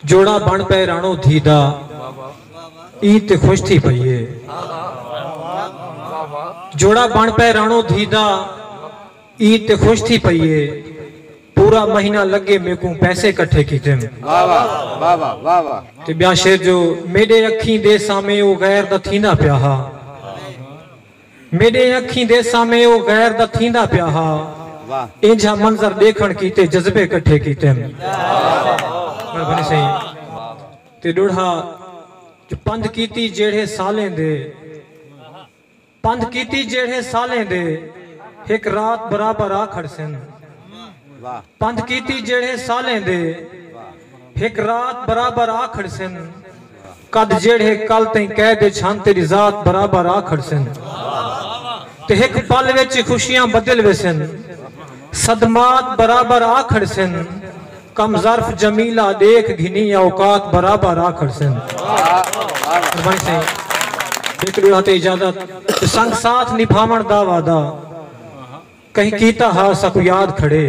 جوڑا بݨ پئے راݨو دھی دا عید تے خوش تھی پئی اے۔ جوڑا بݨ پئے راݨو دھی دا عید تے خوش تھی پئی اے۔ پورا مہینہ لڳے میکوں پیسے کٹھے کیتم۔ تے ٻیا شعر جو میݙے اکھیں دے سامے او غیر دا تھیندا پیا ہا۔ میݙیں اکھیں دے سامھے او غیر دا تھیندا پیا ہا۔ اینجھا منظر ݙیکھݨ کیتے جذبے کٹھے کیتم۔ مہربانی سئیں تے ݙوڑھا جو پندھ کیتی جیڑھے سالیں دے۔ پندھ کیتی جیڑھے سالیں دے ہک رات برابر آ کھڑسن۔ پندھ کیتی جیڑھے سالیں دے ہک رات برابر آ کھڑسن۔ کڈھ جیڑھے کل تئیں قید اچ ہن تیڈی ذات برابر آ کھڑسن تے ہک پل وچ ای خوشیاں بدل ویسن صدمات برابر آ کھڑسن کم ظرف جمیلہ ڈیکھ گھنی اوقات برابر آ کھڑسن قربانی سائیں ہک ڈو ہتھ اجازت تے سنگ ساتھ نبھاون دا وعدہ کہیں کیتا ہا ساکوں یاد کھڑے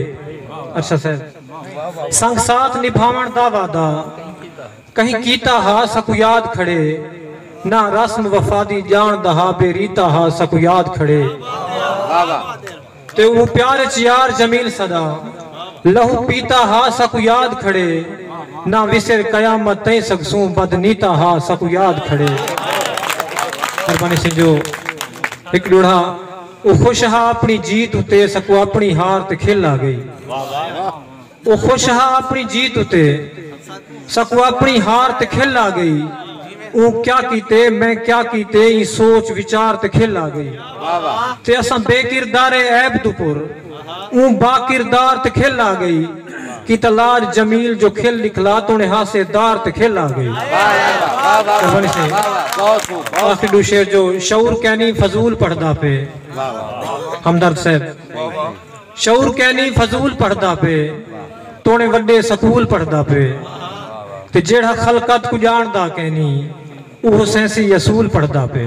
ارشد صاحب سنگ ساتھ نبھاون دا وعدہ کہیں کیتا ہا ساکوں یاد کھڑے نہ رسم وفا دی جان دا ہا بے ریتا ہا ساکوں یاد کھڑے تے او پیار اچ یار جمیل سدا لہو پیتا ہا ساکوں یاد کھڑے نہ وسر قیامت تئیں سگسوں بد نیتا ہا ساکوں یاد کھڑے مہربانی سنجو ہک ڈوڑھا او خوش ہا اپݨی جیت اتے سکوں اپݨی ہار تے کھل آ ڳئی۔ او خوش ہا اپݨی جیت اتے سکوں اپݨی ہار تے کھل آ ڳئی۔ اوں کیا کیتے، میں کیا کیتے ایں سوچ وچار تے کھل آ ڳئی۔ تے اساں بے کردارے عیب توں پر۔ اوں با کردار تے کھل آ گئی کیتا لاڈ جمیل جو کھل نکلا تونے ہاسے دار تے کھل آ گئی آخری ڈو شعر جو شعور کینی فضول پڑھدا پے ہمدرد صاحب شعور کینی فضول پڑھدا پے تونے وڈے سکول پڑھدا پے تے جیڑھا خلقت کو جان دا کینی اوہو سینسی یسول پڑھدا پے